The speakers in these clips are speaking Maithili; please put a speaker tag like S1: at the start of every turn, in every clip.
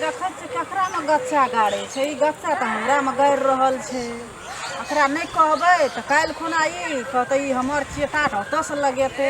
S1: देखै छै ककरा में गच्चा गाड़े छै ई गच्चा तऽ हमरा में गाड़ि रहल छै एकरा नहि कहबै तऽ काल्हि खुना ई कहतै ई हमर छियै तात ओतऽसँ लगेतै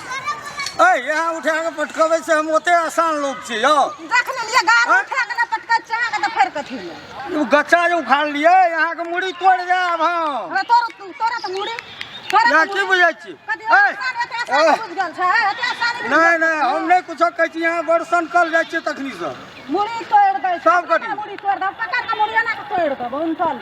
S1: यहाँ उठा
S2: के पटकबे से हम ओते आसान लोग छी यो देख लेलिए गार हाँ?
S1: उठा के ना पटकै छै अहाँ के त फेर कथि ले उ गच्चा जे उखाड़
S2: लिए यहाँ के मुड़ी तोड़ जाब हम अरे तोर तू तोरा त मुड़ी
S1: या की
S2: बुझै छी नहीं नहीं हम नहीं कुछ कहै छी यहाँ बरसन कल जाइ छी तखनी से मुड़ी तोड़ दे
S1: सब कथि मुड़ी तोड़ दे
S2: पकड़ के
S1: मुड़ी ना तोड़ दे बन चल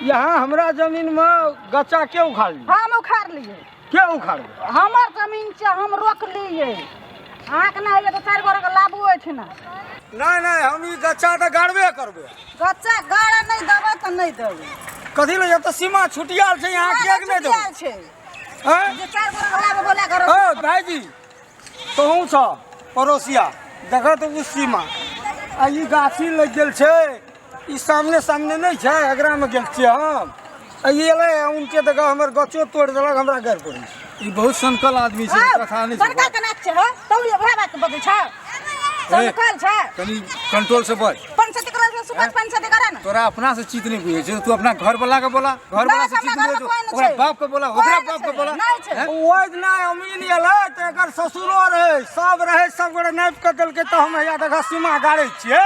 S2: यहाँ हमरा जमीन में गच्चा के उखाड़ लिए हम उखाड़ लिए
S1: के उखाड़
S2: हमर जमीन
S1: छै हम रोकलियै अहाँके नहि होइए तऽ चारि गोरेके लाबू ओहिठिना नहि नहि हम
S2: ई गच्चा तऽ गाड़बे करबै गच्चा गाड़े
S1: नहि देबै तऽ नहि देबै कथी लए जब तऽ
S2: सीमा छुटियाल छै यहाँ केक नहि देबै छै
S1: हैं जे
S2: चारि गोरेके लाबू
S1: बोला करो ओ भाईजी
S2: तोहूँ छ पड़ोसिया देखत ओ सीमा आ ई गाछी लग गेल छै ई सामने सामने नहीं छै एकरा में गेल छियै हम अइले उनके तक हमर गचो तोड़ देलक हमरा घर पर ई बहुत संकल आदमी छै कथा नहीं संकल के नाच छै
S1: तौ ये भरा बात बगे छै संकल छै तनी कंट्रोल
S3: से बच पंच से करा से
S1: सुपच पंच से करा ना तोरा अपना से चित नहीं
S3: बुझे छै तू अपना घर वाला के बोला घर वाला से चित बुझे ओकरा बाप के बोला ओकरा बाप के बोला नहीं छै ओइ दिन
S2: अमीन एले त एकर ससुरो रहे सब रहे सब गोरे नाप के देलके त हम या देखा सीमा गाड़े छियै